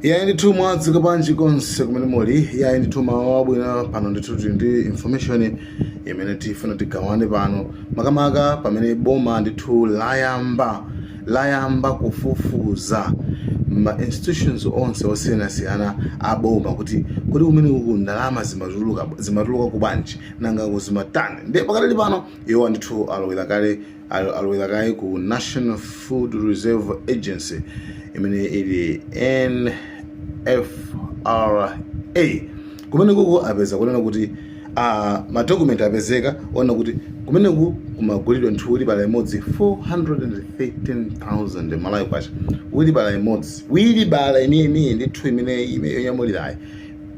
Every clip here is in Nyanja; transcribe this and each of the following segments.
Iyayi ndithu mwadzuka bwanji konse kumene muli. Iyayi ndithu mawa wabwino pano ndithu tili ndi information imene tifuna tigawane pano makamaka pamene boma ndithu layamba kufufuza ma institutions onse osiyanasiyana a boma kuti kodi kumene uku ndalama zimatuluka ku bwanji nanga ku zimatani ndiye pakadali pano iwo ndithu alowera kale Al- alowera kale ku national food reserve agency imene ili nfra kumenekuko apeza kunena kuti uh, madokumenti apezeka onena kuti kumeneku kumagulidwa ndithu wilibala imodzi 413000 malawi kwacha wilibala imodzi wilibala imeneyi ndithu imene ime- yonyamulirayi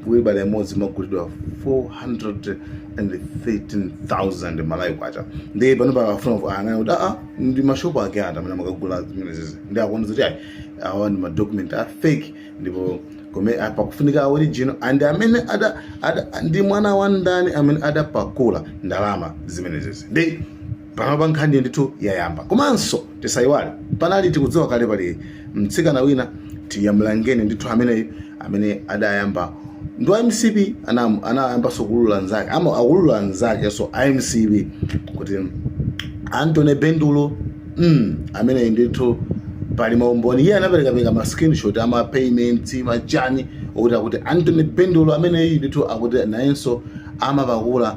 wilibala imodzi imagulidwa 413,000 malawi kwacha ndi pano akufuna aone kuti aa ndi mashopu ake ati amene amakagula zimenezi nde akuona zoti ayi awa ndi madocument a fake ndipo koma pakufunika a original and amene ada, ada, ndi mwana wa ndani amene adapakula ndalama zimenezi ndi Panopa nkhani ndithu yayamba. Komanso tisaiwale panali tikudziwa kale pali mtsikana wina tiyamlangeni ndithu ameneyu amene adayamba ndi wa mcp anam- anayambanso kuulula nzake ama- akuulula nzakenso a mcp kuti antony bendulo mm, ameneyi ndithu pali maumboni iye anaperekapereka ma screenshot ama payments machani okuti akuti antony bendulo ameneyi ndithu akuti nayenso amapakula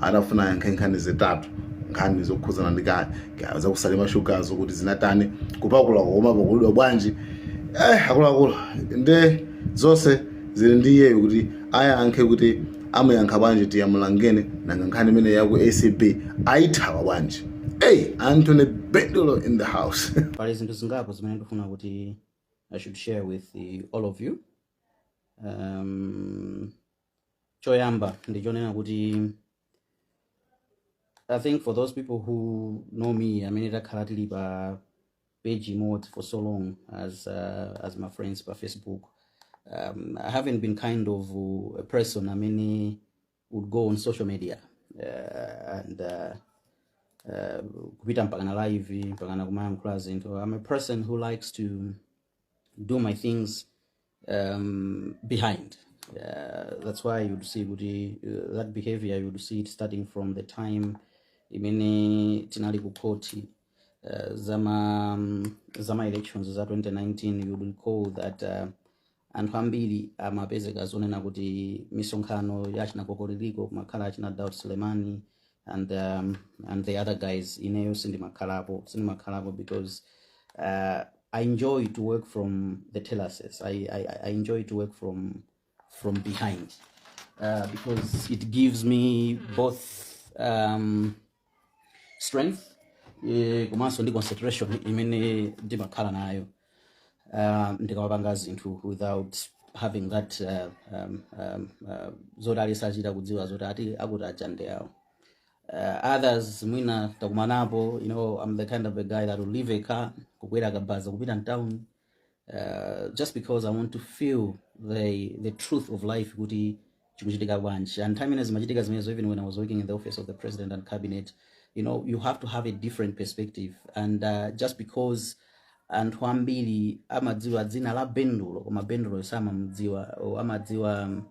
akufuna ayankhe nkhani zitatu nkhani zokhudzana ndi ka ka- zakusalima shugazo kuti zinatani kupakula kuma pakulidwa bwanji eh akuluakulu nde zonse zili ndi iyeyo kuti ayankhe kuti amuyankha bwanji tiyamulangeni nanga nkhani imene yaku acb ayithawa bwanji hey anthony bendulo in the house pali zinthu zingapo zimene ndifuna kuti i should share with eh, all of you um, choyamba ndichonena kuti i think for those people who know me amene takhala tili pa page imodzi for so long as, uh, as my friends pa facebook um, i haven't been kind of uh, a person amene would go on social media uh, and uh, uh, kupita mpakana live mpakana kumayankhula zinthu i'm a person who likes to do my things um, behind. Uh, that's why you'd see kuti, uh, that behavior you'd see it starting from the time imene tinali ku court uh, zama um, zama elections za 2019 you'd recall that uh, anthu ambiri amapezeka zonena kuti misonkhano ya achina kokoliliko kumakhala achina Daud Sulemani and um, and the other guys ineyo sindimakhalapo sindimakhalapo because uh, i enjoy to work from the terraces I, I, I I enjoy to work from from behind uh, because it gives me both um, strength eh, komanso ndi concentration imene ndimakhala nayo uh, ndikamapanga zinthu without having that uh, um, um, uh, zoti alisachita kudziwa zoti ati akuti aja ndi awo uh, others mwina takumanapo you know i'm the kind of a guy that will leave a car kukwera kabaza kupita mtown uh, just because i want to feel the, the truth of life kuti chikuchitika bwanji and time ino zimachitika zimenezo even when i was working in the office of the president and cabinet you know you have to have a different perspective and uh, just because anthu ambiri amadziwa dzina la bendulo koma bendulo samamdziwa or amadziwa um,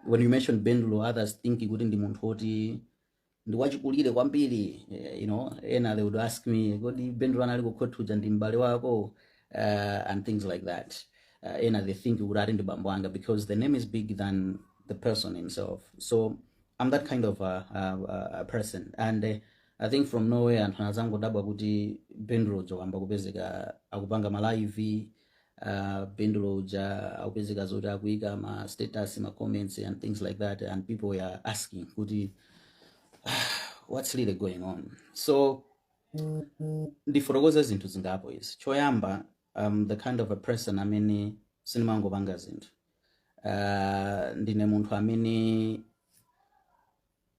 when you mention bendulo others think kuti ndi munthu woti ndi wachikulire kwambiri eh, you know ena they would ask me kodi bendulo anali kukhoti uja ndi m'bale wako uh, and things like that uh, ena they think kuti ati ndi bambo anga because the name is big than the person himself so i'm that kind of a, a, a- a person and uh, i think from nowhere anthu anazangodabwa kuti bendulo uja wayamba kupezeka akupanga malaivi uh, Bendulo uja akupezeka zoti akuika ma status ma comments and things like that and people were asking kuti what's really going on so ndifotokoza zinthu zingapo izi choyamba um, the kind of a person amene sindimangopanga zinthu uh, ndine munthu amene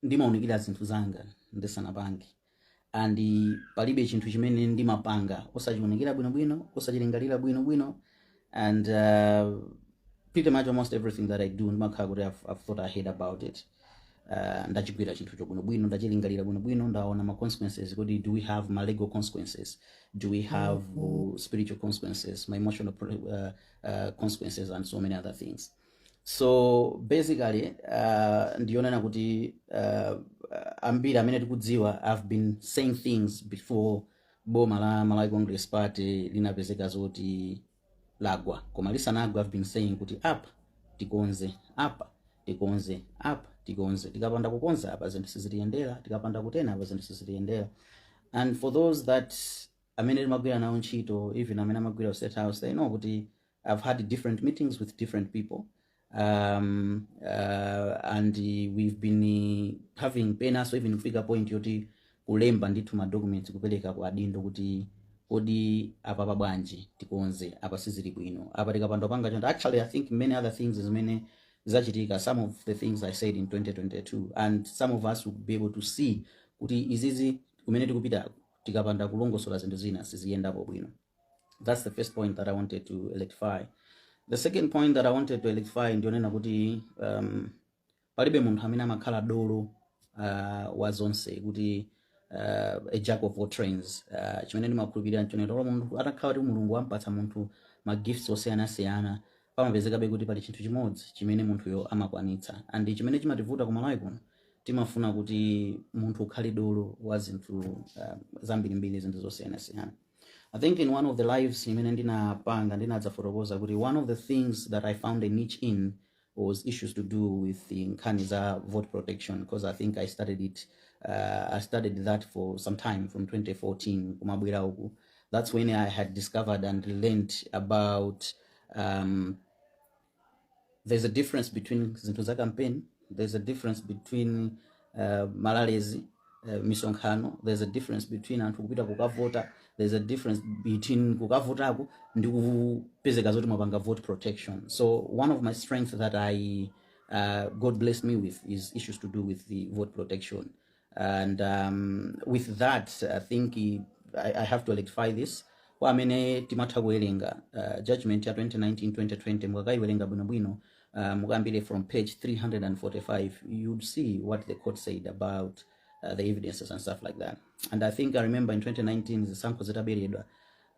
ndimaunikira zinthu zanga ndisanapange and palibe chinthu chimene ndimapanga osachiunikira bwinobwino osachilingalira bwinobwino and uh, pretty much almost everything that i do ndimakhala kuti I've, I've thought ahead about it uh, ndachigwira chinthucho bwinobwino ndachilingalira bwinobwino ndaona ma consequences kuti do we have ma legal consequences do we have uh, spiritual consequences ma emotional pro- uh, uh, consequences and so many other things so basically uh, ndiyonena kuti uh, ambiri amene tikudziwa i've been saying things before boma la malawi congress party linapezeka zoti lagwa koma lisanagwa i've been saying kuti apa tikonze apa tikonze apa tikonze tikapanda kukonza apa zinthu sizitiyendera tikapanda kutena apa zinthu sizitiyendera and for those that amene timagwira nawo ntchito even amene amagwira ku state house they know kuti I've had different meetings with different people um, uh, and uh, we've been uh, having penaso even kufika point yoti kulemba ndithu ma documents kupereka kwa adindo kuti kodi apapa bwanji tikonze apa sizili bwino apa tikapanda panga chonde actually i think many other things zimene zachitika some of the things i said in 2022 and some of us will be able to see kuti izizi, kumene tikupita tikapanda kulongosola zinthu zina siziyendapo bwino That's the first point that I wanted to rectify. The second point that I wanted to rectify ndi yonena kuti um, palibe munthu amene amakhala dolo uh, wa zonse kuti uh, a jack of all trades uh, chimene ndimakhulupirira nchonena kuti munthu atakhala kuti mulungu wampatsa munthu ma gifts osiyanasiyana pamapezekabe kuti pali chinthu chimodzi chimene munthuyo amakwanitsa and chimene chimativuta ku malawi kuno timafuna kuti munthu ukhale dolo wa zinthu uh, zambirimbiri zinthu zosiyanasiyana I think in one of the lives imene ndinapanga ndinadzafotokoza kuti one of the things that I found a niche in was issues to do with the nkhani za vote protection because I think I started it uh, I studied that for some time from 2014 kumabwera uku that's when I had discovered and learnt about um, there's a difference between zinthu za campaign there's a difference between uh, malalezi uh, misonkhano there's a difference between anthu kupita kukavota there's a difference between kukavotako ndi kupezeka zoti mwapanga vote protection so one of my strength that i uh, god blessed me with is issues to do with the vote protection and um, with that i think i, I have to electrify this kwa amene timatha kuwerenga uh, judgment ya 2019-2020 mukakayiwerenga bwinobwino uh, mukayambire from page 345 you'd see what the court said about uh, the evidences and stuff like that and i think i remember in 2019 zisankho zitaberedwa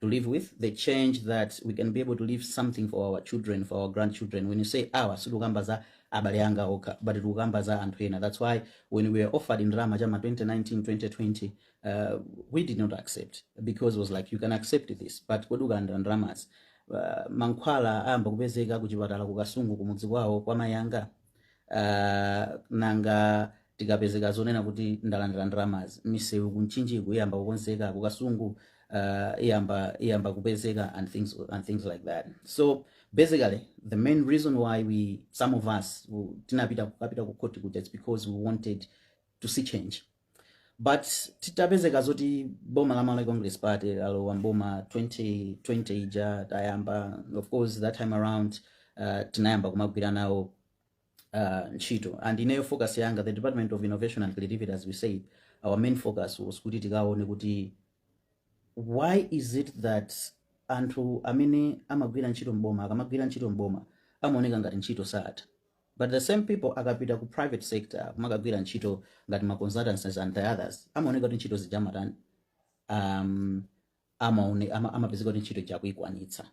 to live with the change that we can be able to leave something for our children for our grandchildren when you say our sitikukamba za abale anga okha but tikukamba za anthu ena that's why when we were offered ndalama chama 2019 2020 uh, we did not accept because it was like you can accept this but kodi ukalandira ndalamazi uh, mankhwala ayamba kupezeka kuchipatala kukasungu kumudzi kwawo kwa mayanga uh, nanga Tikapezeka zonena kuti ndalandira ndalamazi, misewu ku Mchinjiku iyamba kukonzeka, ku Kasungu uh, iyamba iyamba kupezeka and things and things like that. So basically the main reason why we some of us who- tinapita kukapita ku court kuja it's because we wanted to see change. But titapezeka zoti boma la Malawi Congress Party lalowa m'boma 2020 ija tayamba of course that time around uh, tinayamba kumagwira nawo uh, ntchito and ineyo focus yanga the department of innovation and creativity as we said our main focus was kuti tikaone kuti why is it that anthu amene amagwira ntchito mboma akamagwira ntchito mboma amaoneka ngati ntchito sakutha but the same people akapita ku private sector kumakagwira ntchito ngati ma consultancies and the others amaoneka kuti ntchito ija amatani um, amaone ama, amapezeka kuti ntchito ija akuikwanitsa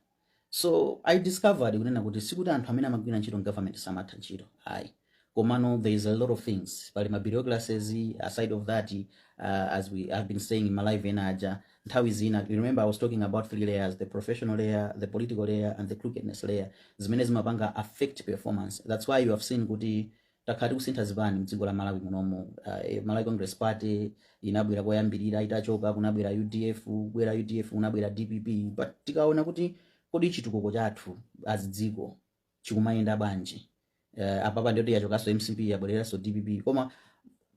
so i discovered kunena kuti sikuti anthu amene amagwira ntchito mgovernment samatha ntchito ayi komano there is a lot of things pali ma bureaucracies aside of that uh, as we have been saying in ma live ena aja nthawi zina you remember i was talking about three layers the professional layer the political layer and the crookedness layer zimene zimapanga affect performance that's why you have seen kuti takhala tikusintha zipani mdziko la malawi munomu uh, malawi congress party inabwera koyambirira itachoka kunabwera udf kubwera udf kunabwera dpp but tikaona kuti kodi chitukuko chathu as dziko chikumayenda bwanji uh, apapa ndi yoti yachokanso mcp yabwereranso dpp koma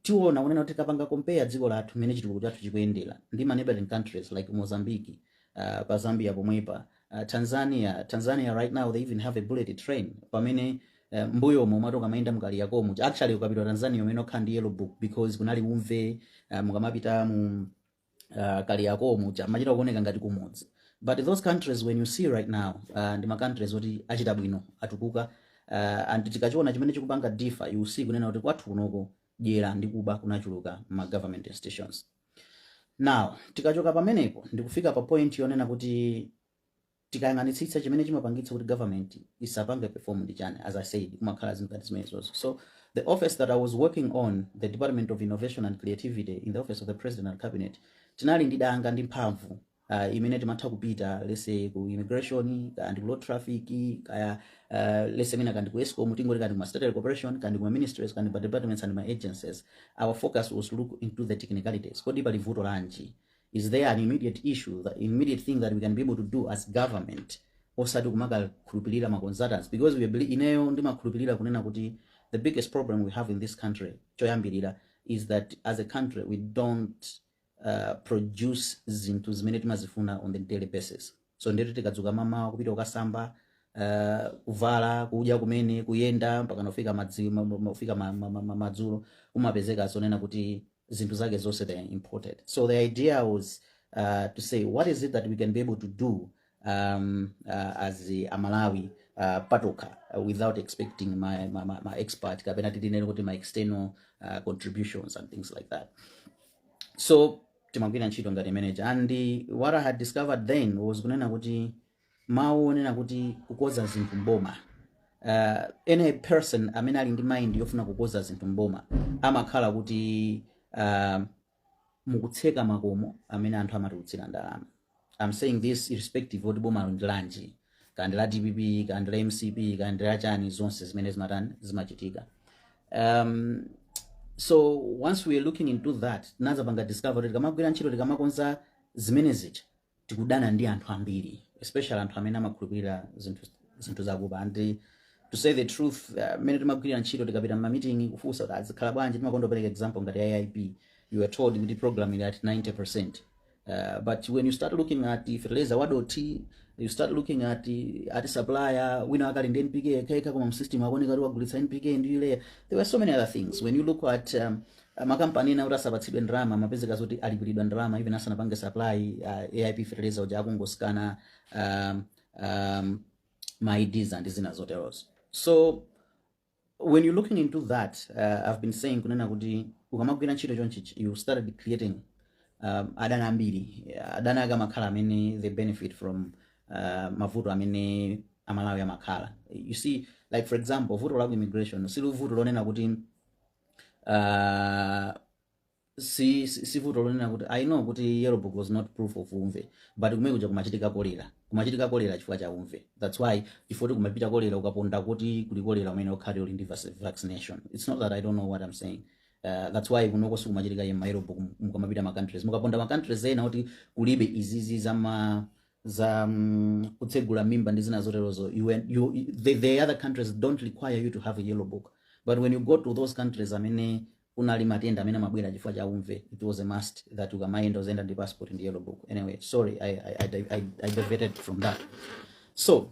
tiona kunena kuti tikapanga compare dziko lathu mmene chitukuko chathu chikuyendera ndi ma neighboring countries like Mozambique uh, pa Zambia pomwepa uh, Tanzania Tanzania right now they even have a bullet train pamene uh, mbuyomo umati ukamayenda mkaliyakomo actually ukapita Tanzania umayenera ukhale ndi yellow book because kunali umve uh, mukamapita mu uh, kaliyako muja amachita kuoneka ngati kumudzi but those countries when you see right now uh, ndi ma countries oti achita bwino atukuka uh, and tikachiona chimene chikupanga differ you see kunena kuti kwathu kunoko dyera ndi kuba kunachuluka ma government institutions now tikachoka pamenepo ndikufika pa point yonena kuti tikayang'anitsitsa chimene chimapangitsa kuti government isapange perform ndi chani as i said kumakhala zinthu ngati zimenezozo so the office that i was working on the department of innovation and creativity in the office of the president and cabinet tinali ndi danga ndi mphamvu uh, imene timatha kupita lese ku immigration kaya ndi ku road traffic kaya uh, lese mina kaya ndi ku escom tingoti kaya ndi kuma state corporation kaya ndi kuma ministries kaya ndi ma departments and ma agencies our focus was to look into the technicalities kodi pali vuto lanji Is there an immediate issue, the immediate thing that we can be able to do as government osati kumakakhulupirira ma consultants because we believe, ineyo ndimakhulupirira kunena kuti the biggest problem we have in this country choyambirira is that as a country we don't uh, produce zinthu zimene timazifuna on the daily basis so nde ti tikadzuka mamawa kupita kukasamba uh, kuvala kudya kumene kuyenda mpaka kufika madzi mafika ma, ma, ma, ma, madzulo umapezeka zonena kuti zinthu zake zonse they are imported so the idea was uh, to say what is it that we can be able to do um, uh, as amalawi uh, patokha uh, without expecting ma, ma, ma, ma expert kapena titinene kuti ma external uh, contributions and things like that so timagwira ntchito ngati imene ija and what i had discovered then was kunena kuti mawu onena kuti kukonza zinthu mboma uh, any person amene ali ndi mind yofuna kukonza zinthu mboma amakhala kuti uh, mukutseka makomo amene anthu amatulutsira ndalama I'm saying this irrespective oti boma ndi lanji kaya ndi la dpp kaya ndi la mcp kaya ndi la chani zonse zimene zimatani zimachitika um, so once we are looking into that tinazapanga discover kuti tikamagwira ntchito tikamakonza zimene zija tikudana ndi anthu ambiri especially anthu amene amakhulupirira zinthu zinthu zakuba and to say the truth uh, mmene timagwirira ntchito tikapita mmamiting kufunsa kuti azikhala bwanji timakonda kupereka example ngati aip you are told kuti program ili at 90 Uh, but when you start looking at fertilizer wadothi you start looking at kuti supplier wina akali ndi npk yekhayekha koma msystem akuoneka kuti wagulitsa npk ndi urea there were so many other things when you look at um, makampani ena kuti asapatsidwe ndalama amapezeka zoti alipilidwa ndalama even asanapange supply uh, aip fertilizer uja akungosikana um, um, ma IDs ndi zina zoterozo so when you are looking into that uh, i've been saying kunena kuti ukamagwira ntchito chonchichi you started creating um, adani ambiri adani ake amakhala amene they benefit from uh, mavuto amene amalawi amakhala you see like for example vuto la ku immigration sili vuto lonena kuti uh, si si- si vuto lonena kuti i know kuti yellow book was not proof of umve but kumene kuja kumachitika kolera kumachitika kolera chifukwa cha umve that's why chifukwa kumapita kolera ukapita kuti kuli kolera umayenera ukhale uli ndi vac- vaccination it's not that i don't know what i'm saying Uh, that's why kunoko sikumachitika ye ma yellow book mukamapita ma countries mukapita ma countries ena kuti kulibe izizi za ma za mm, kutsegula mimba ndi zina zoterozo you, en- you, the, the other countries don't require you to have a yellow book but when you go to those countries amene kunali matenda amene amabwera chifukwa cha umve it was a must that ukamayenda uziyenda ndi passport ndi yellow book anyway sorry i, I, I, di- I, I diverted from that so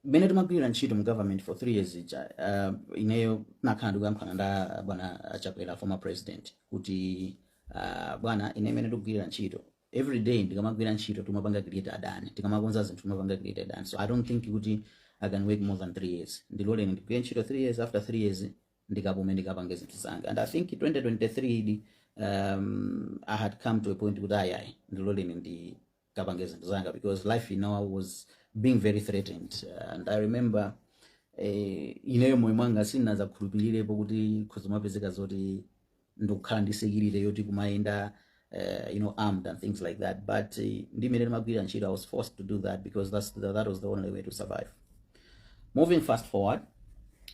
mmene timagwirira ntchito mu government for three years ija uh, ineyo nakhala ndikuyankhulana nda bwana achakwera former president kuti uh, bwana ine mmene ndikugwirira ntchito every day ndikamagwira ntchito timapanga create adani tikamakonza zinthu timapanga create adani so i don't think kuti i can work more than three years ndiloleni ndigwire ntchito three years after three years ndikapume ndikapange zinthu zanga and i think 2023 idi um, i had come to a point kuti ayi ayi ndiloleni ndikapange zinthu zanga because life you know i was being very threatened uh, and i remember eh, ineyo moyo mwanga sinazakhulupirirepo kuti kuzimapezeka zoti ndikukhala ndi security yoti kumayenda uh, you know armed and things like that but uh, ndi mmene timagwirira ntchito i was forced to do that because that's the, that was the only way to survive moving fast forward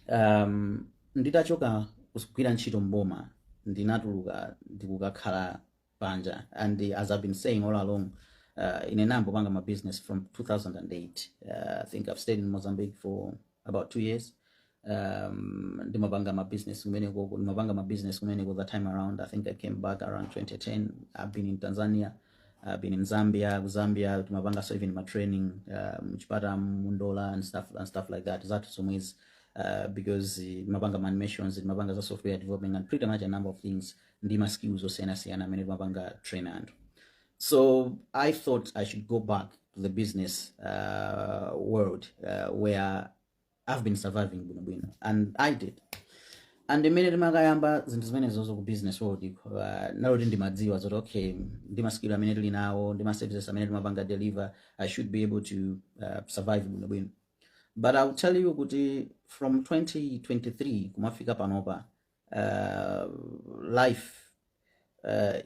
um, nditachoka kugwira ntchito mboma ndinatuluka ndikukakhala panja and as i've been saying all along uh, ine nambopanga ma business from 2008 uh, i think i've stayed in mozambique for about two years um, ndimapanga ma business kumeneko ndimapanga ma business kumeneko that time around i think i came back around 2010 i've been in tanzania i've been in zambia ku zambia timapanga so even ma training uh, mChipata mu Ndola and stuff, and stuff like that zathu zomwezi uh, because eh, timapanga ma animations timapanga za software development and pretty much a number of things ndi ma skills osiyanasiyana amene timapanga train anthu so i thought i should go back to the business uh, world uh, where i've been surviving bwinobwino and i did and mmene timakayamba zinthu zimenezozo ku business world iko uh, naloti ndimadziwa zoti okay ndi maskill amene tili nawo ndi ma services amene timapanga deliver i should be able to uh, survive bwinobwino but i will tell you kuti from 2023 kumafika panopa uh, life uh,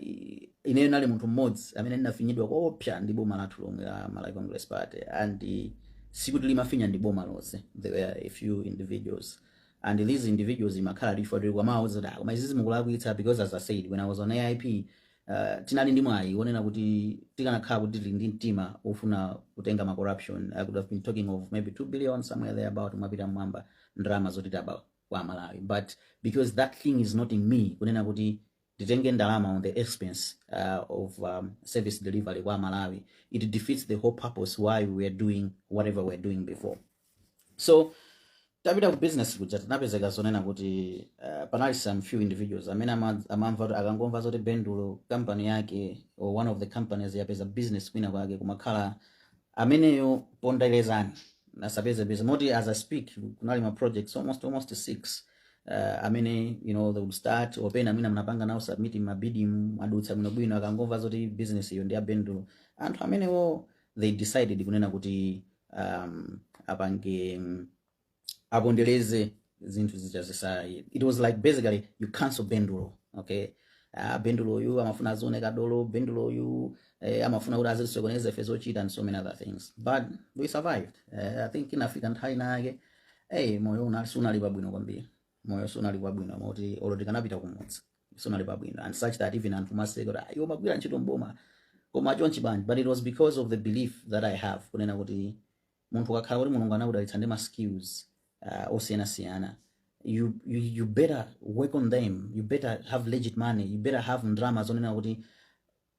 ineyo ndinali munthu mmodzi amene ndinafinyidwa koopsa ndi boma lathu lomwe la Malawi Congress Party and uh, sikuti limandifinya ndi boma lonse there were a few individuals and these individuals imakhala ifo tili kuwauza zoti ah, koma izizi mukulakwitsa because as I said when I was on AIP uh, tinali ndi mwayi wonena kuti tikanakhala kuti tili ndi mtima wofuna kutenga ma corruption I could have been talking of maybe 2 billion somewhere there about mwapita mmwamba ndalama zoti taba kwa amalawi but because that thing is not in me kunena kuti nditenge ndalama on the expense uh, of um, service delivery kwa amalawi it defeats the whole purpose why we are doing whatever we are doing before so tapita ku business kuja tinapezeka zonena kuti uh, panali some few individuals amene ama- amamva kuti akangomva zoti bendulo company yake or one of the companies yapeza business kwina kwake kumakhala ameneyo ponderezani asapezepeze moti as i speak kunali ma projects almost almost six uh, amene you know they would start opena mwina mnapanga nawo submit ma bid mwadutsa bwinobwino akangomva zoti business iyo ndi ya bendulo anthu amenewo they decided kunena kuti um, apange mm, apondereze zinthu zija zisa it was like basically you cancel bendulo okay ah, bendulo uyu amafuna azioneka dolo bendulo uyu eh, amafuna kuti azisokoneza ife zochita and so many other things but we survived eh, i think inafika nthawi nake hey, moyo una- sunali pabwino kwambiri moyo sunali pabwino moti olo tikanapita kumudzi sunali pabwino and such that even anthu amaseka kuti "Ah, iwe umagwira ntchito mboma koma chonchi bwanji but it was because of the belief that i have kunena kuti munthu ukakhala kuti mulungu anakudalitsa ndi ma skills uh, osiyanasiyana you, you, you better work on them you better have legit money you better have ndalama zonena kuti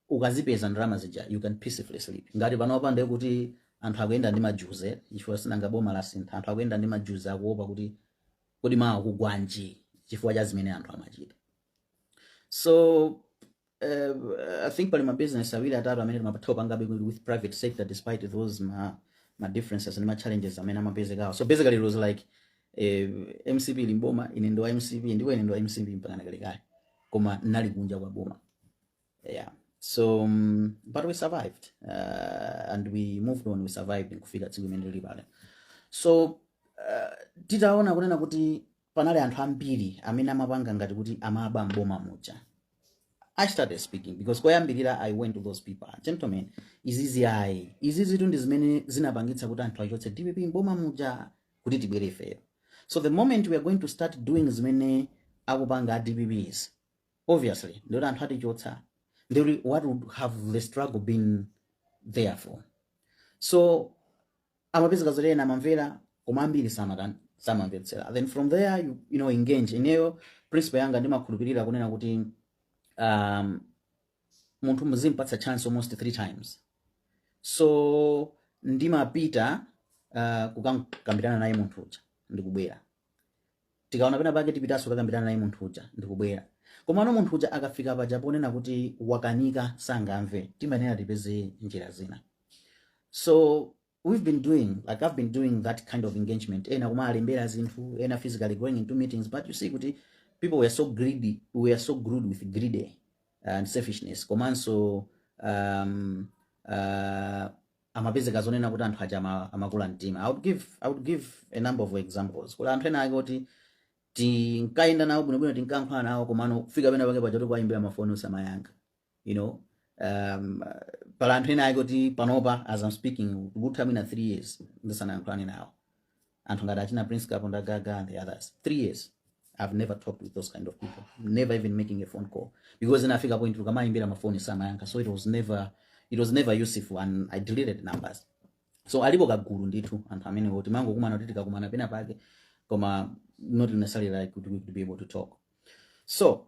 ukazipeza ndalama zija you can peacefully sleep ngati panopa ndiye kuti anthu akuyenda ndi majuze chifukwa sinanga boma lasintha anthu akuyenda ndi majuze akuopa kuti kodi mawa kugwanji chifukwa cha zimene anthu amachita so eh, I think pali ma business awiri atatu amene timatha kupangabe with with private sector despite those ma, ma differences and ma challenges amene amapezekawo so basically it was like eh, mcp ili mboma ine ndi wa mcp ndipo ine ndi wa mcp mpaka nakalekale koma nali kunja kwa boma yeah so um, but we survived uh, and we moved on we survived nkufika tsiku limene lili pale so uh, titaona kunena kuti panali anthu ambiri amene amapanga ngati kuti amaba m'boma muja i started speaking because koyambirira i went to those people "Ah, gentlemen izizi ayi izizitu ndi zimene zinapangitsa kuti anthu achotse dpp m'boma muja kuti tibwere ifeyo so the moment we are going to start doing zimene akupanga a dpps obviously ndikuti anthu atichotsa ndikuti what would have the struggle been there for so amapezeka zoti ena amamvera koma ambiri samatani samamvetsera then from there you, you know engage ineyo principle yanga ndimakhulupirira kunena kuti um, munthu muzimpatsa chance almost three times so ndimapita uh, kukakambirana naye munthu uja ndikubwera tikaona pena pake tipitanso kukambirana naye munthu uja ndikubwera komano munthu uja akafika paja ponena kuti wakanika sangamve timayenera tipeze njira zina so we've been doing like i've been doing that kind of engagement ena kumawalembera zinthu ena physically going into meetings but you see kuti people were so greedy we were so greed with greed and selfishness komanso um, uh, amapezeka zonena kuti anthu aja ama- amakula mtima I would give, I would give a number of examples pali anthu ena ake oti tinkayenda nawo bwinobwino tinkankhala nawo komano kufika pena pake paja tikuwayimbira mafoni osamayankha you know um, pali anthu ena ake oti panopa as I'm speaking tikutha mwina 3 years ndisanayankhulane nawo anthu ngati achina prince kaponda gaga and the others three years i've never talked with those kind of people never even making a phone call because inafika point ukamawayimbira mafoni samayankha so it was never it was never useful and i deleted numbers so alipo kagulu ndithu anthu amene oti timangokumana kuti tikakumana pena pake koma not necessarily like to, to be able to talk so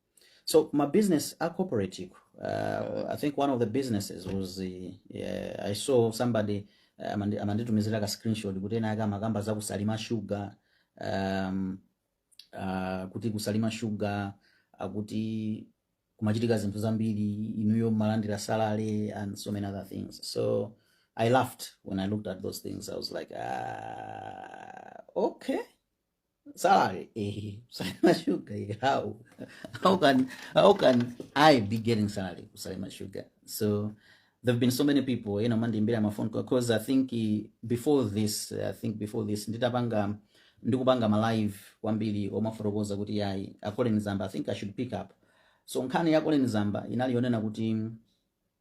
So ma business a cooperative. Uh, I think one of the businesses was the uh, I saw somebody uh, amandi- amanditumizira ka screenshot kuti ena ake amakamba za ku Salima Sugar um, uh, kuti ku Salima Sugar akuti kumachitika zinthu zambiri inuyo mumalandira salary and so many other things so I laughed when I looked at those things I was like ah, okay Salary, eh, Salima Sugar, eh, how? How can how can I be getting salary ku Salima Sugar? So there have been so many people, ena amandiimbira ma phone call because I think eh, before this, I think before this, nditapanga ndikupanga ma live kwambiri ndimafotokoza kuti yayi a Colleen Zamba I think I should pick up. So nkhani ya Colleen Zamba inali yonena kuti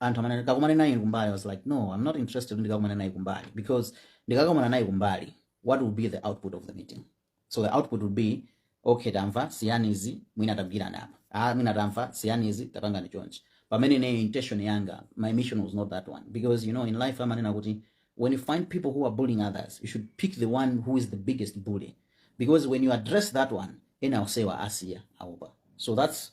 anthu amati kakumane naye kumbali I was like no I'm not interested kuti ndikakumane naye kumbali because ndikakumana naye kumbali what will be the output of the meeting so the output will be okay tamva siyani izi mwina tagwirizana apa ah mwina tamva siyani izi tapangani chonchi pamene ineyo intention yanga my mission was not that one because you know in life amanena kuti when you find people who are bullying others you should pick the one who is the biggest bully because when you address that one ena onsewa asiya aopa so that's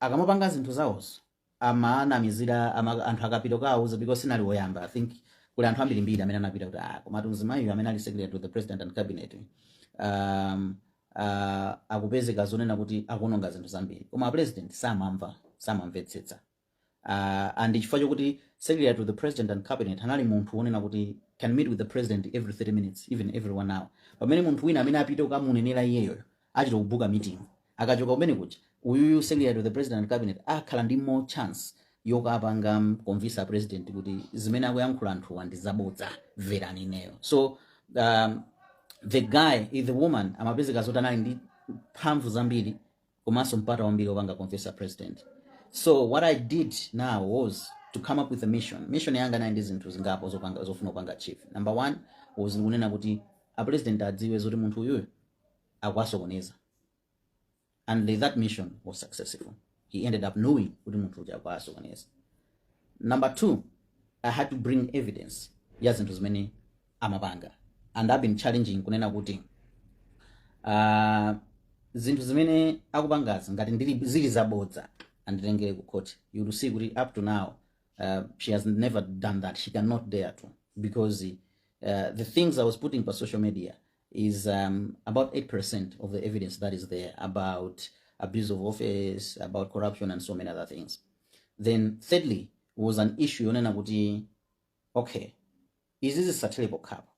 akamapanga zinthu zawozo amanamizira ama, anthu akapita kawauza because sindinali woyamba i think kuli anthu ambirimbiri amene anapita kuti ah komatu mzimayiyu amene ali secretary to the president and cabinet um, uh, akupezeka zonena kuti akuononga zinthu zambiri koma president samamva samamvetsetsa uh, and chifukwa chokuti secretary to the president and cabinet anali munthu wonena kuti can meet with the president every 30 minutes even every one hour pamene munthu wina amene apite kukamunenera iyeyoyo achita kubuka meeting Akachoka kumene kuja uyuyu secretary to the president and cabinet akhala ndi more chance yokapanga convince a president kuti zimene akuyankhula anthuwa ndi zabodza mverani ineyo so um, the guy eh, the woman amapezeka zoti anali ndi mphamvu zambiri komanso mpata wambiri wopanga convince a president so what i did now was to come up with a mission mission yanga inali ndi zinthu zingapo zopanga zofuna kupanga achieve number one was kunena kuti a president adziwe zoti munthu uyuyu akuwasokoneza and that mission was successful he ended up knowing kuti munthu uja akuwasokoneza number two i had to bring evidence ya zinthu zimene amapanga and i've been challenging kunena kuti uh, zinthu zimene akupangazi ngati ndili zili zabodza anditengere ku court you will see kuti up to now uh, she has never done that she cannot dare to because uh, the things i was putting pa social media is um, about 8% of the evidence that is there about abuse of office, about corruption, and so many other things. Then, thirdly, was an issue yonena kuti, okay, izizi zisathere pokhapo.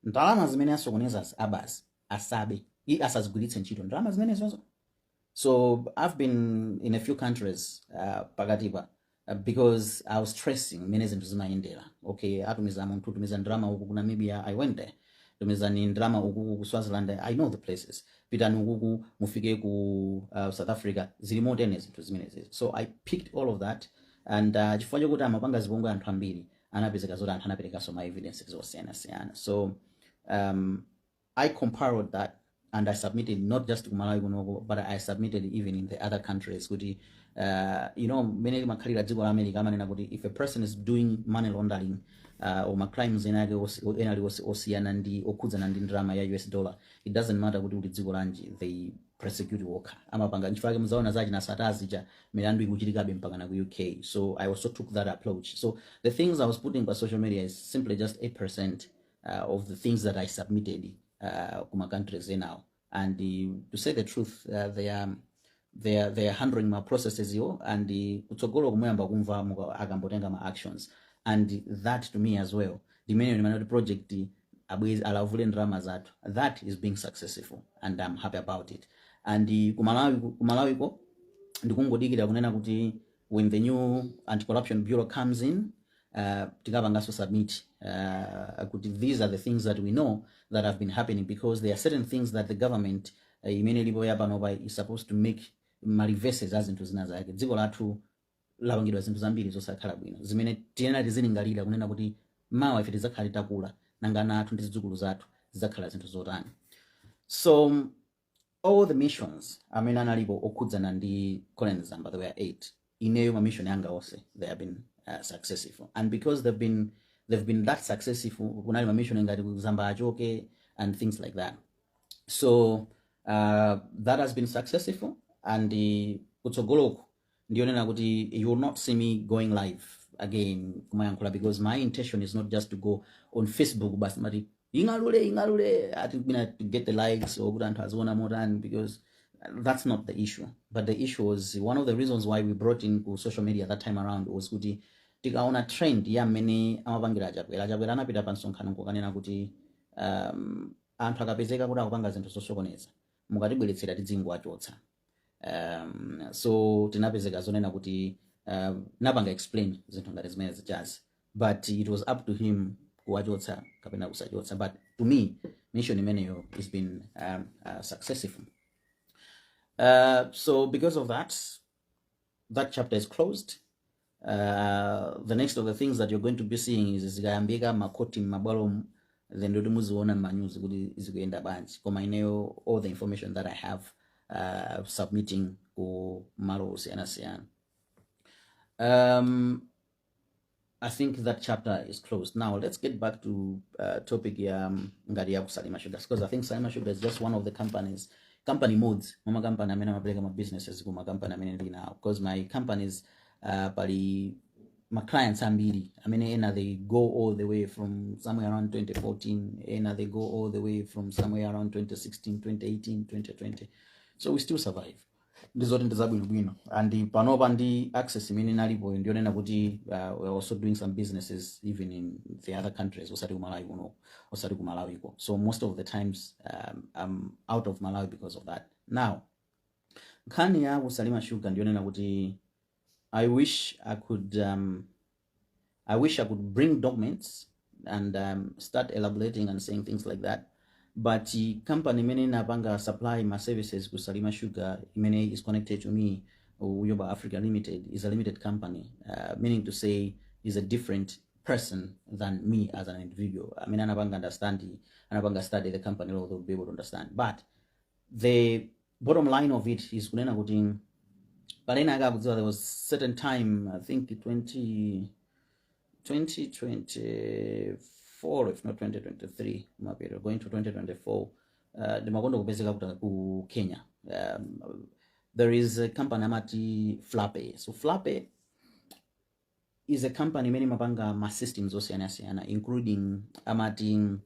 Ndalama zimene asokoneza abazi asabe, i asazigwiritse ntchito. Ndalama zimene zonzo So I've been in a few countries uh, pakatipa uh, because I was tracing mmene zinthu zimayendera. Okay, atumiza munthu kutumiza ndalama uku ku Namibia, I went there. Tumizani ndalama uku ku Swaziland, I know the places. Pitani ukuku mufike ku uh, South Africa, zili motene zinthu zimenezi. So I picked all of that and uh, chifukwa chokuti amapanga zipongwe anthu ambiri anapezeka zoti anthu anaperekanso ma evidences osiyanasiyana. So um, I compiled that and I submitted not just ku Malawi kunoko but I submitted even in the other countries kuti uh, you know mmene limakhalira dziko la America amanena kuti if a person is doing money laundering uh, or ma crimes ena ake osi- ena ali osi- osiyana ndi okhudzana ndi ndalama ya US dollar it doesn't matter kuti uli dziko lanji they prosecute okha amapanga nchifukwa yake muzaona za achina Sattar zija milandu ikuchitikabe mpaka na ku UK so I also took that approach so the things I was putting pa social media is simply just 8% uh, of the things that I submitted uh, kuma countries enawo and uh, to say the truth uh, they are they are, they are handling ma processes-wo and uh, kutsogolo kuno muyamba kumva muka- akuyambo tenga ma actions and that to me as well ndimene ndimene kuti project iyi abweze alavule ndalama zathu that is being successful and i'm happy about it and uh, kumalawi kumalawiko ndikungodikira kunena kuti when the new anti-corruption bureau comes in uh, tikapanganso submit uh, kuti these are the things that we know that have been happening because there are certain things that the government uh, imene ilipo yapanopa is supposed to make ma reverses a zinthu zina zake dziko lathu lapangidwa zinthu zambiri zosakhala bwino zimene tiyenera tizilingalira kunena kuti mawa ife tidzakhala titakula nanga ana athu ndi zidzukulu zathu zidzakhala zinthu zotani so all the missions amene analipo okhudzana ndi Colleen Zamba there were eight ineyo ma mission anga onse they have been uh, successful and because they've been they've been that successful kunali ma mission ngati ku Zamba achoke and things like that so uh, that has been successful and uh, kutsogoloku ndiyonena kuti you will not see me going live again kumayankhula because my intention is not just to go on facebook basi amati ing'alule ing'alule ati mina to get the likes or kuti anthu aziona motani because that's not the issue but the issue was one of the reasons why we brought in ku social media that time around was kuti tikaona trend ya mmene amapangira achakwera achakwera anapita pa msonkhano kukanena kuti um, anthu akapezeka kuti akupanga zinthu zosokoneza mukatibweretsera tidzingowachotsa um, so tinapezeka zonena kuti uh, napanga explain zinthu ngati zimene zijazi but it was up to him kuwachotsa kapena kusachotsa but to me mission imeneyo has been um, uh, successful uh, so because of that that chapter is closed uh, the next of the things that you're going to be seeing is zikayambika makhoti m'mabwalomu then ndi zoti muziona m'manyuzi kuti zikuyenda bwanji koma ineyo all the information that i have uh, submitting ku malo osiyanasiyana um, I think that chapter is closed. Now let's get back to uh, topic ya um, ngati ya ku Salima Sugar because I think Salima Sugar is just one of the companies company imodzi mwa ma company amene amapereka ma businesses kuma company amene ndili nawo because my companies uh, pali ma clients ambiri amene ena they go all the way from somewhere around 2014 ena they go all the way from somewhere around 2016 2018 2020 so we still survive ndizoti ndi za bwinobwino and panopa ndi access imene inalipo ndiyonena kuti uh, we're also doing some businesses even in the other countries osati kumalawi kuno osati ku Malawi kokha so most of the times um, i'm out of malawi because of that now Nkhani ya ku Salima Sugar ndiyonena kuti I wish I could um, I wish I could bring documents and um, start elaborating and saying things like that but uh, company imene inapanga supply ma services ku Salima Sugar imene is connected to me Uyoba Africa Limited is a limited company uh, meaning to say is a different person than me as an individual amene anapanga understand anapanga study the company law to be able to understand but the bottom line of it is kunena kuti penanake mukudziwa there was certain time i think 20 2024 if not 2023 mapeto going to 2024 uh, ndimakonda kupezeka kuja ku kenya um, there is a company amati flape so flape is a company imene imapanga ma systems osiyanasiyana including amati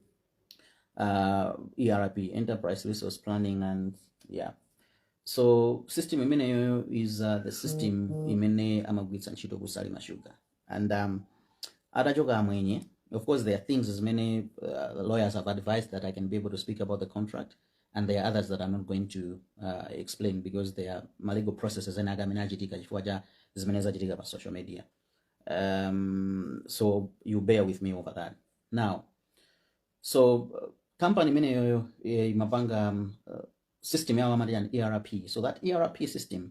uh, erp enterprise resource planning and yeah so system imeneyo is uh, the system imene amagwiritsa ntchito kusalima sugar and um, atachoka amwenye of course there are things zimene uh, lawyers have advised that i can be able to speak about the contract and there are others that I'm not going to uh, explain because there are ma legal processes ena ake amene akuchitika chifukwa cha zimene zachitika pa social media um, so you bear with me over that now so uh, company imeneyoyo eh, imapanga um, uh, system yawo amati an erp so that erp system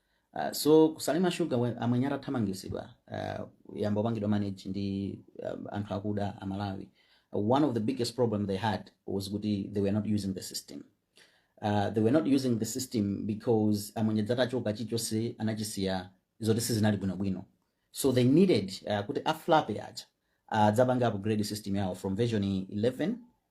Uh, so ku Salima Sugar we- amwenye atathamangitsidwa uh, inayamba kupangidwa manage ndi um, anthu akuda amalawi uh, one of the biggest problem they had was kuti they were not using the system uh, they were not using the system because amwenye aja atachoka chilichonse anachisiya zoti sizinali bwinobwino so they needed uh, kuti aflape aja uh, adzapange upgrade system yawo from version 11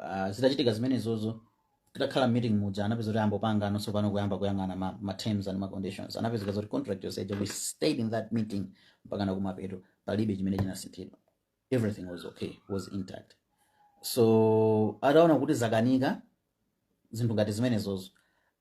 Ah, zitachitika zimenezozo titakhala meeting muja anapeza kuti ayamba kupanganso pano kuyamba kuyang'ana ma, ma terms and ma conditions anapezeka zoti contract yonse ija we stayed in that meeting mpaka kumapeto palibe chimene chinasinthidwa everything was okay was intact so ataona kuti zakanika zinthu ngati zimenezozo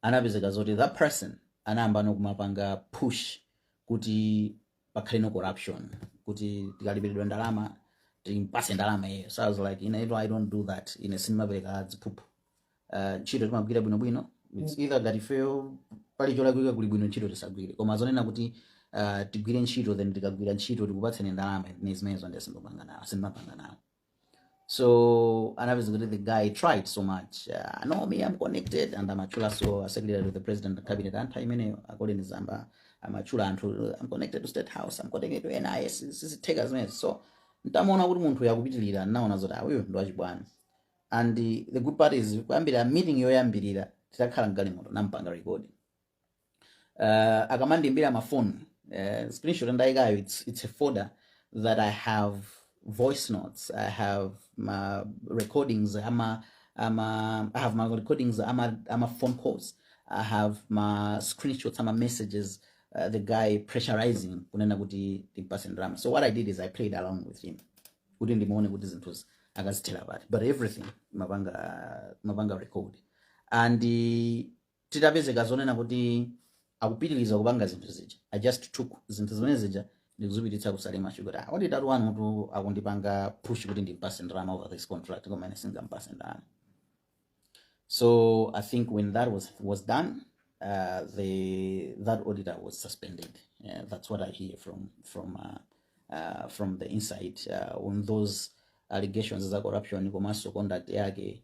anapezeka zoti that person anayamba no kumapanga push kuti pakhale no corruption kuti tikalipiridwa ndalama timpatse ndalama iyeyo so i was like ine iyo i don't do that ine sindimapereka ziphuphu uh, ntchito timagwira bwinobwino it's either ngati ifeyo pali cholakwika kuli bwino ntchito tisagwire koma zonena kuti uh, tigwire ntchito then tikagwira ntchito tikupatseni ndalama zimenezo nde sindipanga nawo sindimapanga nawo So and obviously the guy tried so much. Uh, no, me, I'm connected and I'm actually so a secretary to the president of cabinet and time in according to Zamba. I'm actually until I'm connected to State House, I'm connected to NIS, this is take as mess. So ntamona kuti munthu yakupitirira naona zoti awuyo ndi wachibwana and the, the good part is kuyambira meeting yoyambirira titakhala mgalimoto nampanga recording uh, akamandiimbira mafoni uh, screenshot ndayikayo it's, it's a folder that i have voice notes i have ma recordings ama ama i have my recordings ama ama phone calls i have ma screenshots ama messages uh, the guy pressurizing kunena kuti timpase ndalama so what i did is i played along with him kuti ndimuone kuti zinthuzi akazithera pati but everything mapanga mapanga record and uh, titapezeka zonena kuti akupitiliza kupanga zinthu zija i just took zinthu zimene zija ndikuzipititsa ku Salima Sugar kuti ah, auditor wanuyutu akundipanga push kuti ndimpatse ndalama over this contract koma ine singampatse ndalama so i think when that was, was done uh, the, that auditor was suspended yeah, that's what i hear from, from, uh, uh, from the inside uh, on those allegations za corruption komanso conduct yake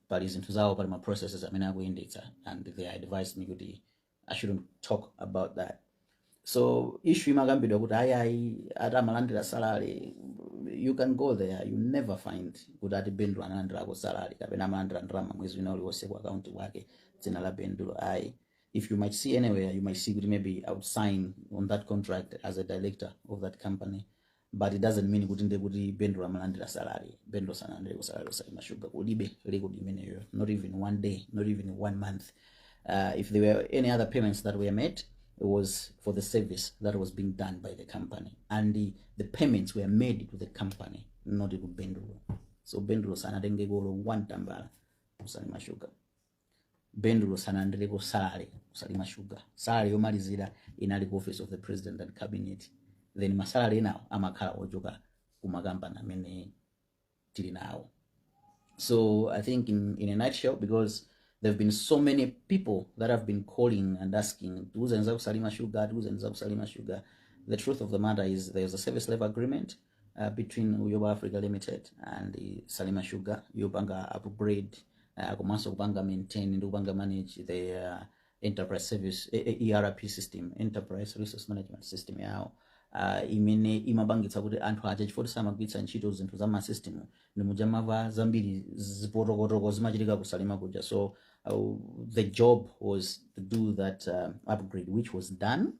pali zinthu zawo pali ma processes amene akuyendetsa and they advised me kuti i shouldn't talk about that so issue imakambidwa kuti ayi ayi ati amalandira salary you can go there you never find kuti ati Bendulo analandirako salary kapena amalandira ndalama mwezi wina uliwonse ku akaunti kwake dzina la Bendulo ayi if you might see anywhere you might see kuti maybe i would sign on that contract as a director of that company but it doesn't mean kuti ndiye kuti bendulo amalandira salary bendulo sanalandire ku salary osalima sugar kulibe likud imeneyo not even one day not even one month uh, if there were any other payments that were made it was for the service that was being done by the company and the, the payments were made to the company not to bendulo so bendulo sanatengekolo one tambala osalima sugar Bendulo sanalandireko salary ku Salima Sugar salary yomalizira inali ku office of the president and cabinet then masalary enawo amakhala ochoka ku makampani amene tili nawo so i think in, in a nutshell because there have been so many people that have been calling and asking tiuzeni za ku Salima Sugar tiuzeni za ku Salima Sugar the truth of the matter is there's a service level agreement uh, between Uyoba Africa Limited and uh, Salima Sugar yopanga upgrade uh, komanso kupanga maintain ndi kupanga manage the uh, enterprise service eh, eh, erp system enterprise resource management system yawo uh, imene imapangitsa kuti anthu aja chifukwa choti samagwiritsa ntchito zinthu za masystem ndi muja mwamva zambiri zipotokotoko zimachitika ku Salima kuja so uh, the job was to do that uh, upgrade which was done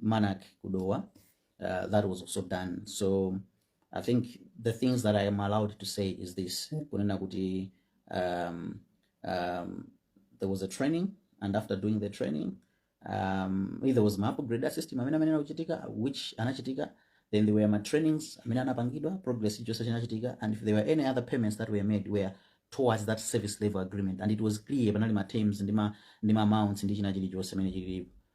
Manac ku Dowa, uh, that was also done. So I think the things that I am allowed to say is this. Kunena kuti, um, um, there was a training and after doing the training, um, there was ma upgrade system amene amene anachitika, which anachitika. Then there were ma trainings amene anapangidwa, progress chilichonse chinachitika. And if there were any other payments that were made were towards that service level agreement. And it was clear, panali ma terms, ndi ma, ndi ma amounts, ndi china chilichonse amene chilipo.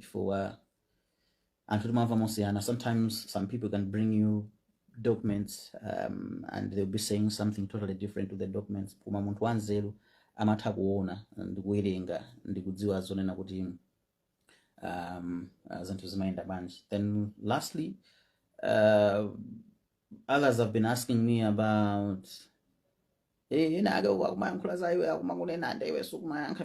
chifukwa anthu timamva mosiyana sometimes some people can bring you documents um, and they'll be saying something totally different to the documents koma munthu wanzeru amatha kuona ndi kuwerenga ndi kudziwa zonena kuti um, uh, zinthu zimayenda bwanji then lastly uh, others have been asking me about eh, ena ake akumayankhula za iwe akumakunena ande iwe sukumayankha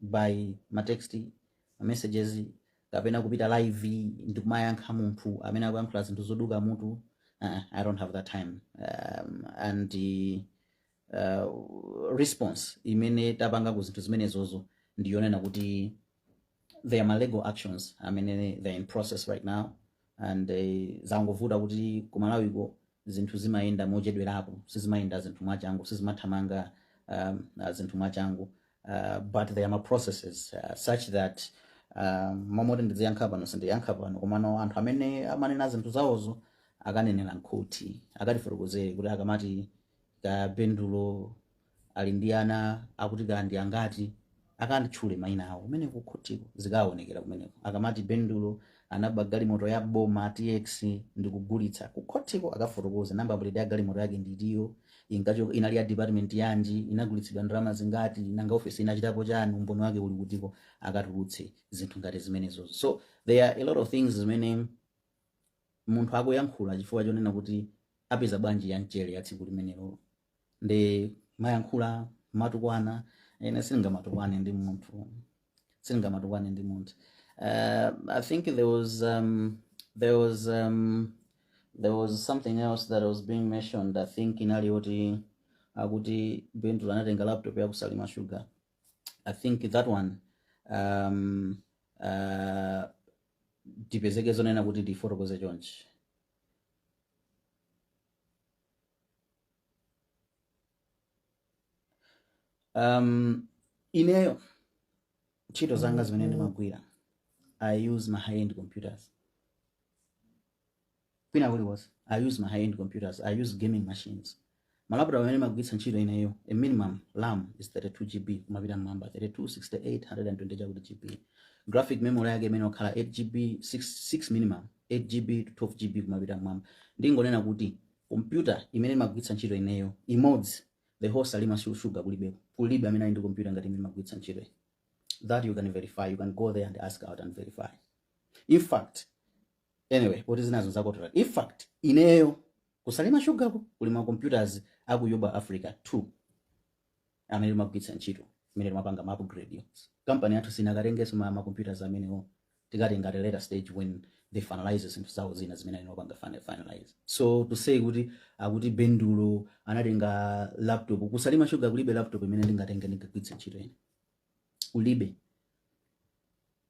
by ma text ma messages kapena kupita live ndikumayankha munthu amene akuyankhula zinthu zoduka mutu uh, i don't have that time um, and uh, response imene tapanga ku zinthu zimenezozo ndiyonena kuti there are ma legal actions amene they're in process right now and uh, zangovuta kuti kumalawiko zinthu zimayenda mochedwerako sizimayenda zinthu mwachangu sizimathamanga um, uh, zinthu mwachangu uh, but there are ma processes uh, such that um, momoti ndiziyankha pano sindiyankha pano komano anthu amene amanena zinthu zawozo akanenera m'khoti akatifotokozere kuti akamati kabendulo ali ndi ana akuti kaya ndi angati akatchule maina awo kumeneko kukhotiko zikaonekera kumeneko akamati bendulo anaba galimoto ya boma tx ndikugulitsa kukhotiko akafotokoze namba plate ya galimoto yake ndi chiyani kaya inali ya department yanji inagulitsidwa ndalama zingati nanga ofesi inachitapo chani umboni wake uli kutiko akatulutse zinthu ngati zimenezozo so there are a lot of things zimene munthu akuyankhula chifukwa chonena kuti apeza bwanji ya mchere ya tsiku limenelo nde mayankhula matukwana ine sindingamatukwane ndi munthu sindingamatukwane ndi munthu uh, i think there was um, there was um, there was something else that was being mentioned i think inali yoti akuti bendulo anatenga laptop ya kusalima sugar i think that one um, uh, tipezeke zonena kuti ndifotokoze chonchi um, ineyo ntchito zanga zimene ndimagwira i use ma high end computers kwina kulikonse i use ma high end computers i use gaming machines malaptop amene ndimagwiritsa ntchito ineyo a minimum RAM is 32 gb kumapita mmwamba 32 68 120 chakuti gb graphic memory yake imayenera kukhala 8 gb 6, 6 minimum 8GB to 12GB kumapita mmwamba. Ndingonena kuti kompyuta imene ndimagwiritsa ntchito ineyo imodzi the whole Salima Su- Sugar kulibeko. Kulibe amene ali ndi kompyuta ngati imene ndimagwiritsa ntchito ine. That you can verify. You can go there and ask out and verify. In fact, anyway poti zinazo zakotola in fact ineyo ku Salima Sugar-ko kuli ma computers a ku iYamba Africa 2 amene ndimagwiritsa ntchito imene ndimapanga ma upgrade yo kampani yathu sinakatengenso ma, ma computers amenewo tikatenga at a later stage when they finalize zinthu zawo zina zimene akupanga fina- finalize so to say kuti akuti bendulo anatenga laptop ku Salima Sugar kulibe laptop imene ndingatenge ndingagwiritse ntchito ine kulibe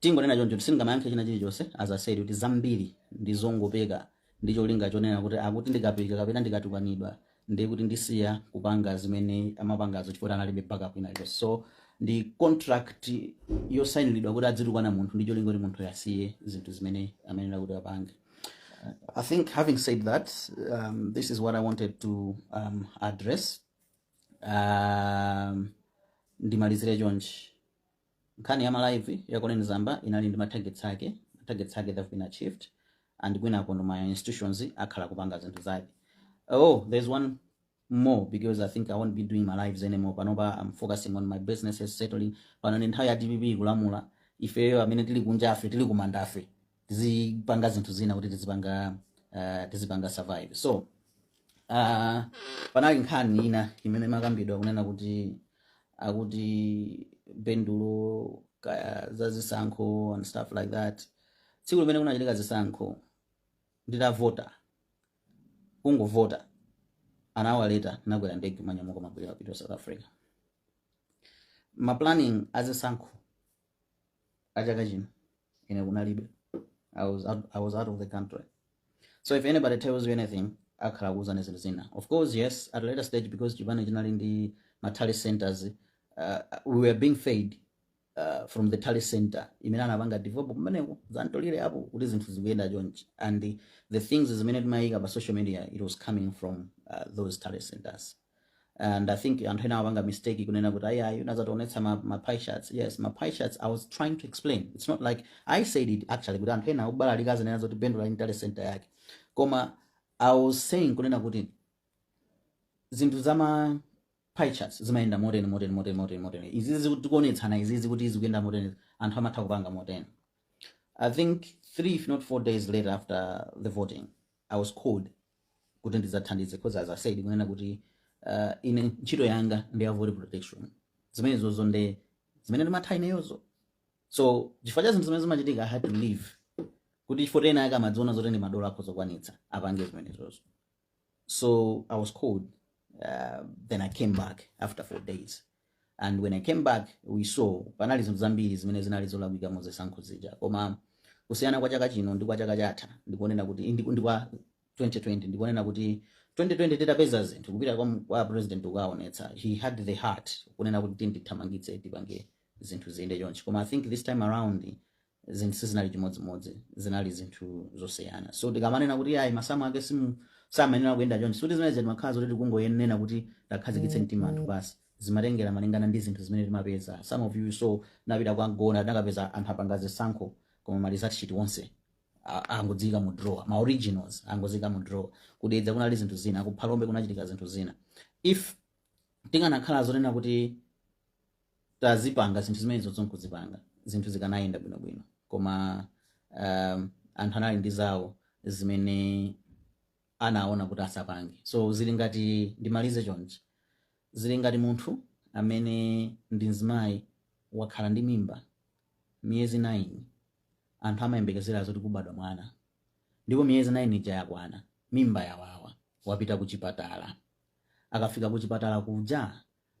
Ndingonena choncho kuti sindingayankhe china chilichonse as I said kuti zambiri ndi zongopeka ndi cholinga chonena kuti akuti ndikapika kapena ndikatukwanidwa ndiye kuti ndisiya kupanga zimene amapangazo chifukwa kuti analibe backup ina iliyonse. So ndi contract yosainidwa kuti adzitukwana munthu ndi cholinga kuti munthuyo asiye zinthu zimene amayenera kuti apange. I think having said that, um, this is what I wanted to um, address. Um, ndimalizire chonchi. Nkhani ya ma live ya Colleen Zamba inali ndi ma targets ake, ma targets ake they've been achieved and kwinakonso ma institutions akhala kupanga zinthu zake. Oh, there's one more because I think I won't be doing ma live anymore. Panopa I'm focusing on my businesses settling. Pano ndi nthawi ya DPP kulamula ifeyo amene tili kunjafe tili kumandafe tizipanga zinthu zina kuti tizipanga uh, tizipanga survive so uh, panali nkhani ina imene imakambidwa kunena kuti akuti bendulo kaya za zisankho and stuff like that tsiku limene kunachitika zisankho nditavota kungovota an hour later ndakwera ndege ndanyamuka ndabwerera ku south africa ma planning a zisankho a chaka chino ine kunalibe, I was, out, I was out of the country so if anybody tells you anything akhala akukuuzani zinthu zina of course yes at a later stage because chipani chinali ndi ma tally centers uh, we were being fed uh, from the tally center imene anapanga develop kumeneko zantolire apo kuti zinthu zikuyenda chonchi and the, the things zimene timayika pa social media it was coming from uh, those tally centers and i think anthu ena amapanga mistake kunena kuti ayayi unazationetsa ma, ma pie charts yes ma pie charts i was trying to explain it's not like i said it actually kuti anthu ena akubalalika azinena zoti bendulo ali ndi tally center yake koma i was saying kunena kuti zinthu zama pie charts zimayenda moteni moteni moteni moteni moteni izizi tikuonetsana izizi kuti zikuyenda moteni anthu amatha kupanga moteni i think three if not four days later after the voting I was called kuti ndidzathandize because as I said kunena kuti uh, ine ntchito yanga ndi ya voter protection zimenezozo nde zimene ndimatha ineyozo so chifukwa cha zinthu zimene zimachitika i had to leave kuti chifukwa ena ake amadziona zoti ndi madolo akhoza kukwanitsa apange zimenezozo so i was called uh, then i came back after four days and when I came back we saw panali zinthu zambiri zimene zinali zolakwika mu zisankho zija koma kusiyana kwa chaka chino ndi kwa chaka chatha ndikonena kuti ndi ndi kwa 2020 ndikonena kuti 2020 titapeza zinthu kupita kwa, m- kwa president ukaonetsa he had the heart kunena kuti tindithamangitse tipange zinthu ziyende chonchi koma i think this time around zinthu sizinali chimodzimodzi zinali zinthu zosiyana so tikamanena kuti ayi masamu ake simu samayenera kuyenda chonchi sikuti zimene zimakhala zoti tikungoyenera kuti takhazikitse mtima anthu basi zimatengera malingana ndi zinthu zimene timapeza some of you saw ndinapita kwa mgona ndinakapeza anthu apanga zisankho koma ma result sheet onse a- angoziika mu drawer ma originals angoziika mu drawer ku dedza kunali zinthu zina ku phalombe kunachitika zinthu zina if tinganakhala zonena kuti tazipanga zinthu zimenezo nkuzipanga zinthu zikanayenda bwinobwino koma um, anthu anali ndi zawo zimene anaona kuti asapange so zili ngati ndimalize chonchi zili ngati munthu amene ndi mzimayi wakhala ndi mimba miyezi 9 anthu amayembekezera zoti kubadwa mwana ndipo miyezi 9 ija yakwana mimba yawawa wapita kuchipatala akafika kuchipatala kuja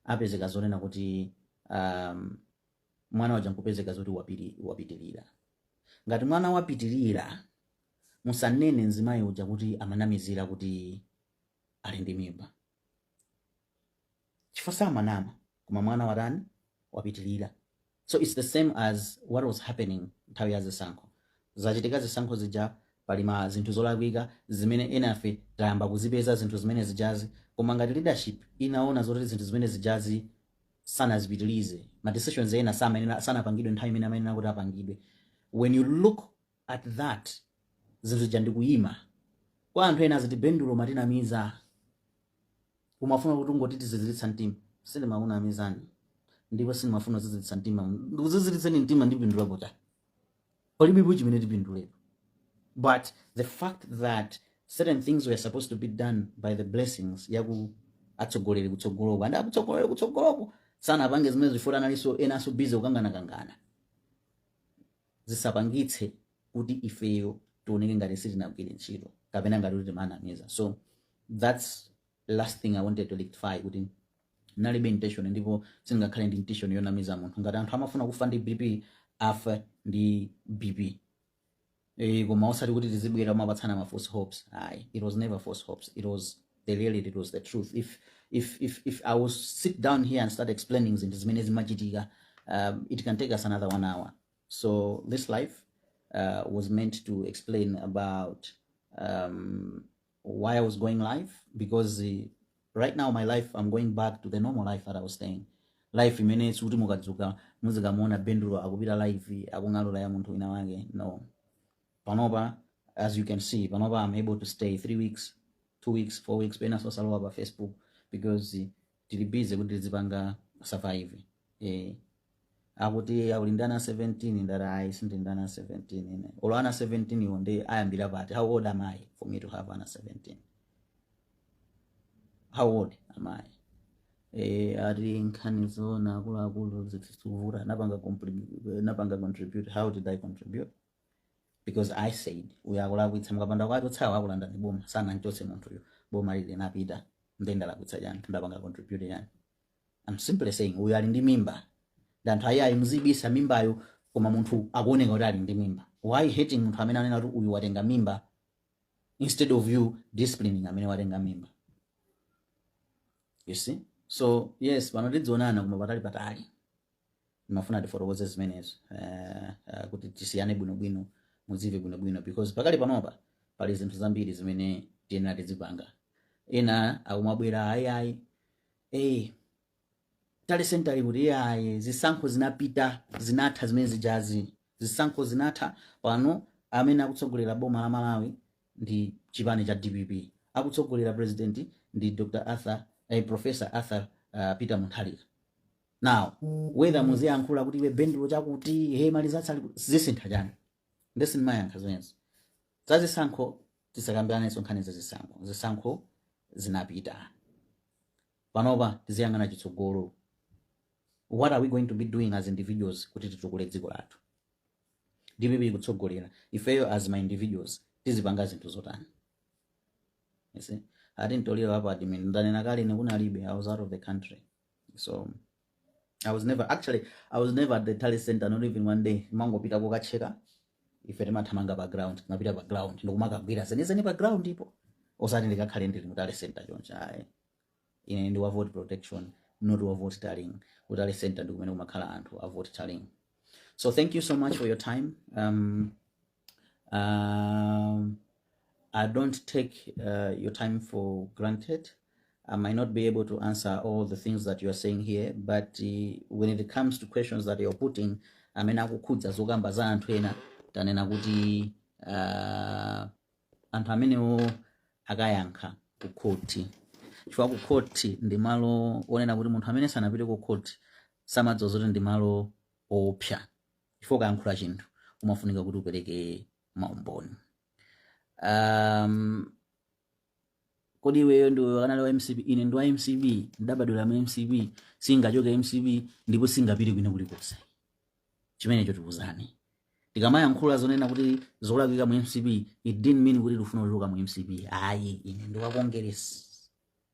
apezeka zonena kuti um, mwana waja nkupezeka zoti wapiri- wapitirira ngati mwana wapitirira musanene mzimayi uja kuti amanamizira kuti ali ndi mimba chifukwa samanama koma mwana watani wapitirira so its the same as what was happening nthawi ya zisankho zachitika zisankho zija pali ma zinthu zolakwika zimene enafe tayamba kuzipeza zinthu zimene zijazi koma ngati leadership inaona zoti zinthu zimene zijazi sanazipitilize ma decisions ena samayenera sanapangidwe nthawi imene amayenera kuti apangidwe when you look at that zinthu zija ndikuyima koma anthu ena aziti bendulo amatinamiza umafuna kuti ungotiti ziziritsa mtima sindimakunamizani ndipo sindimafuna kuziziritsa mtima ndikuziziritseni mtima ndipindulapo chani palibepo chimene tipindulepo but the fact that certain things were supposed to be done by the blessings yaku- atsogoleri kutsogoloko and atsogoleri kutsogoloko sanapange zimene zifunika analinso enanso busy kukanganakangana zisapangitse kuti ifeyo tioneke ngati sitinagwire ntchito kapena ngati kuti timanamiza so that's last thing i wanted to rectify kuti nalibe intention ndipo sindingakhale ndi intention yonamiza munthu ngati anthu amafuna kufa ndi bp afe ndi bp Eh, koma osati kuti tizibwera kumapatsana ma false hopes ayi it was never false hopes it was they really did was the truth if if if if i was sit down here and start explaining zinthu zimene zimachitika um, it can take us another one hour so this life uh, was meant to explain about um, why i was going live because uh, right now my life i'm going back to the normal life that i was staying life imene sikuti mukadzuka muzikamuona bendulo akupita live akung'alula ya munthu wina wake no panopa as you can see panopa am able to stay 3 weeks 2 weeks 4 weeks pena osalowa pa facebook because tili busy kuti tizipanga survive eh akuti ali ndi ana 17 ndati ayi sindili ndi ana 17 ine olo ana 17 wo ndinayambira pati how old am i for me to have ana 17 how old am i eh ati nkhani zoona akuluakulu zikuvuta munapanga compli- napanga contribute how did i contribute because i said uyo akulakwitsa mukapanda kuwachotsawo akulandani boma sanam'chotse munthuyo boma lili linapita nde ndalakwitsa chani ndapanga contribute chani i'm simply saying uyo ali ndi mimba ndi anthu ayayi muzibisa mimbayo koma munthu akuoneka kuti ali ndi mimba why hating munthu amene anena kuti uyu watenga mimba instead of you disciplining amene watenga mimba you see so yes pano tizionana koma patali patali ndimafuna tifotokoze zimenezo eh, eh, kuti tisiyane bwinobwino mudziwe bwinobwino because pakali panopa pali zinthu zambiri zimene tiyenera tizipanga ena akumabwera ayiayi eh, tally center kuti ayi zisankho zinapita zinatha zimene zijazi zisankho zinatha pano amene akutsogolera boma la Malawi ndi chipani cha DPP akutsogolera president ndi Dr Arthur eh, Professor Arthur uh, Peter Mutharika now whether muziyankhula kuti iwe Bendulo chakuti he malizatsa ali- zisintha chani nde sindimayankha zimenezo za zisankho tisakambiranenso nkhani za zisankho zisankho zinapita panopa tiziyang'ana chitsogolo what are we going to be doing as individuals kuti titukule dziko lathu DPP ikutsogolera ifeyo as ma individuals tizipanga zinthu zotani You see? ati mtoliro apo admin ndanena kale ine kunalibe i was out of the country so i was never actually i was never at the tally center not even one day mangopita kokacheka ife timathamanga pa ground kumapita pa ground nkumakagwira zenizeni pa ground po osati ndikakhale ndili mu tally center choncho ayi ine ndi wa vote protection not wa vote tallying ku tally center ndikumene kumakhala anthu a vote tallying so thank you so much for your time um, Um, I don't take uh, your time for granted. I might not be able to answer all the things that you are saying here, but uh, when it comes to questions that you're putting, amene akukhudza zokamba za anthu ena tanena kuti uh, anthu amenewo akayankha ku khoti chifukwa ku khoti ndi malo onena kuti munthu amene sanapite ku khoti samadziwa zoti ndi malo oopsa chifukwa ukayankhula chinthu umafunika kuti upereke maumboni um, kodi iweyo udakali wa mcp ine ndi wa mcp ndinabadwira mu mcp singachoke mcp ndipo singapite kwina kulikonse chimenecho tiuzane tikamayankhula zonena kuti zolakwika mu mcp it didn't mean kuti tikufuna kuchoka mu mcp ayi ine ndi wa congress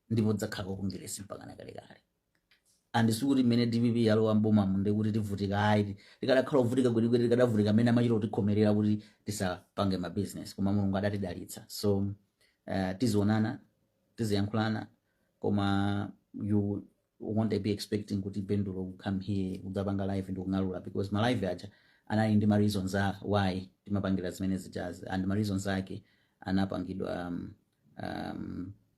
ndipo ndidzakhala wakongeresi mpakana kalekale and sikuti mmene dpp yalowa mbomamu ndiye kuti tivutika ayi tikadakhala ovutika kwenikweni tikadavutika mmene amachita kutikhomerera kuti tisapange ma business koma mulungu adatidalitsa so uh, tizionana tiziyankhulana koma you won't be expecting kuti bendulo will come here kudzapanga live ndi kung'alula because ma live aja anali ndi ma reasons why timapangira zimene zijazi and ma reasons ake anapangidwa um, um,